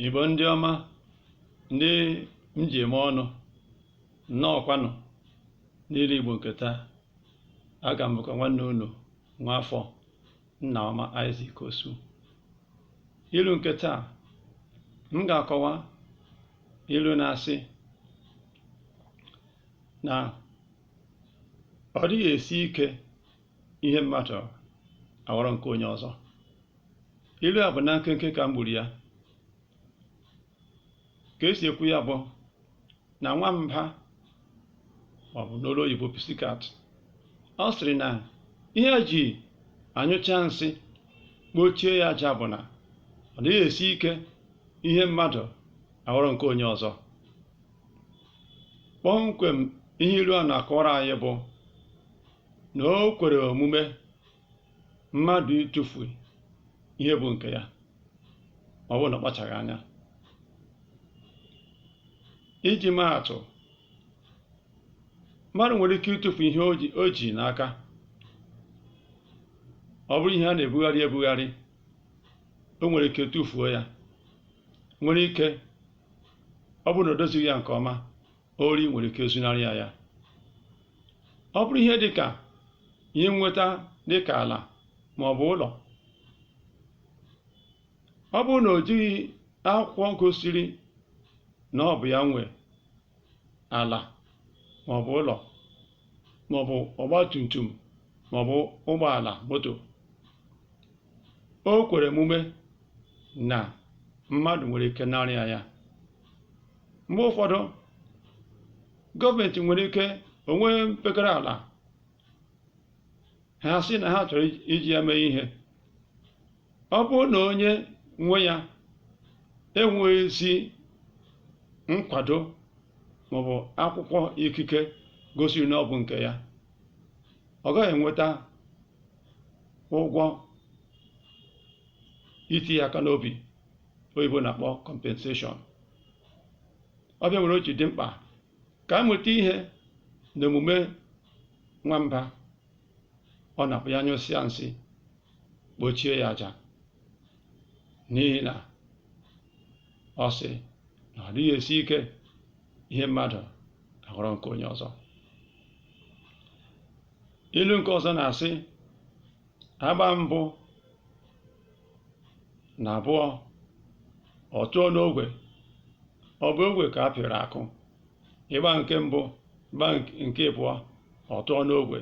Igbo ndị ọma ndị m ji eme ọnụ nnọọkwanụ n'ilu Igbo nke taa a ka m bụkwa nwanne unu nwa afọ nna ọma Isaac Osu ilu nke taa m ga-akọwa ilu na-asị na ọ dịghị esi ike ihe mmadụ aghọrọ nke onye ọzọ ilu a bụ na nkenke ka m gburu ya ka esi ekwu ya bụ na nwamba maọbụ n'olu oyibo pussycat ọ sịrị na ihe ya ji anyụcha nsị kpochie ya aja bụ na ọ dịghị esi ike ihe mmadụ aghọrọ nke onye ọzọ kpọmkwem ihe ilu a na-akọwara anyị bụ na o kwere omume mmadụ ịtụfu ihe bụ nke ya ma ọ bụrụ na ọ kpachaghị anya iji maa atụ mmadụ nwere ike ịtụfu ihe o ji o ji n'aka ọ bụrụ ihe a na-ebugharị ebugharị o nwere ike tụfuo ya nwere ike ọ bụrụ na o dozighị ya nke ọma ori nwere ike zunarị ya ya ọ bụrụ ihe dị ka ihe nweta dị ka ala ma ọ bụ ụlọ ọ bụrụ na o jighị akwụkwọ gosiri na ọ bụ ya nwe ala ma ọ bụ ụlọ ma ọ bụ ọgba tum tum ma ọ bụ ụgbọala moto o kwere omume na mmadụ nwere ike narị ya ya mgbe ụfọdụ gọọmenti nwere ike o nwee mpekere ala ha sị na ha chọrọ iji ya mee ihe ọ bụrụ na onye nwe ya enweghị ezi nkwado maọbụ akwụkwọ ikike gosiri na ọ bụ nke ya ọ gaghị enweta ụgwọ iti ya aka n'obi oyibo na-akpọ compensation ọ bụ ya mere o ji dị mkpa ka a mụta ihe na omume nwamba ọ na-abụ ya nyụsịa nsị kpochie ya aja n'ihi na ọ sị na ọ dịghị esi ike ihe mmadụ aghọrọ nke onye ọzọ ilu nke ọzọ na-asị a gbaa mbụ na abụọ ọ tụọ n'ogwe ọ bụ ogwe ka a pịrị akụ ị gbaa nke mbụ gbaa nke abụọ ọ tụọ n'ogwe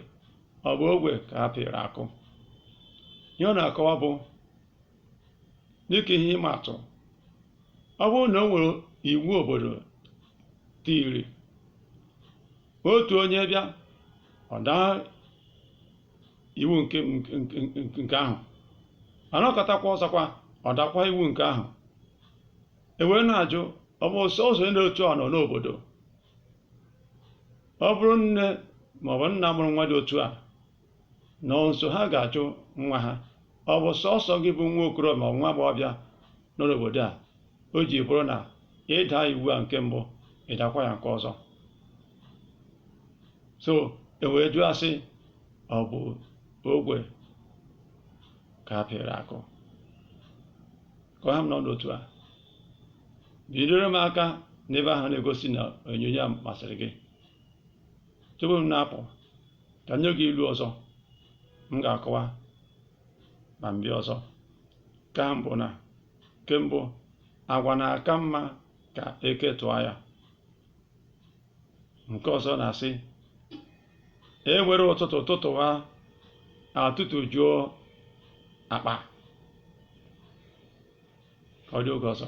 ọ bụ ogwe ka a pịrị akụ ihe ọ na-akọwa bụ dịka ihe ịma atụ ọ bụrụ na o nwere iwu obodo tiri otu onye bịa ọ daa iwu nke ahụ a nọkatakwa ọzọkwa ọ dakwa iwu nke ahụ e wee na-ajụ ọ bụ sọsọ onye otu a nọ n'obodo ọ bụrụ nne ma ọ bụ nna mụrụ nwa dị otu a nọ nso ha ga-ajụ nwa ha ọ bụ sọsọ gị bụ nwa okorobịa ma ọ bụ nwa agbọghọbịa nọ n'obodo a o ji bụrụ na ị daa iwu a nke mbụ ị dakwa ya nke ọzọ so e wee jụọ a sị ọ bụ ogwe ka a pịrị akụ ka ọ ha m n'ọnụ otu a bidoro m aka n'ebe ahụ na-egosi na onyonyo a masịrị gị tupu m na-apụ ka m nye gị ilu ọzọ m ga-akọwa ma m bịa ọzọ ka m bụ na nke mbụ agwa na-aka mma ka eke tụọ ya nke ọzọ na-asị e were ụtụtụ tụtụwa a tụtụjuo akpa ka ọ dị oge ọzọ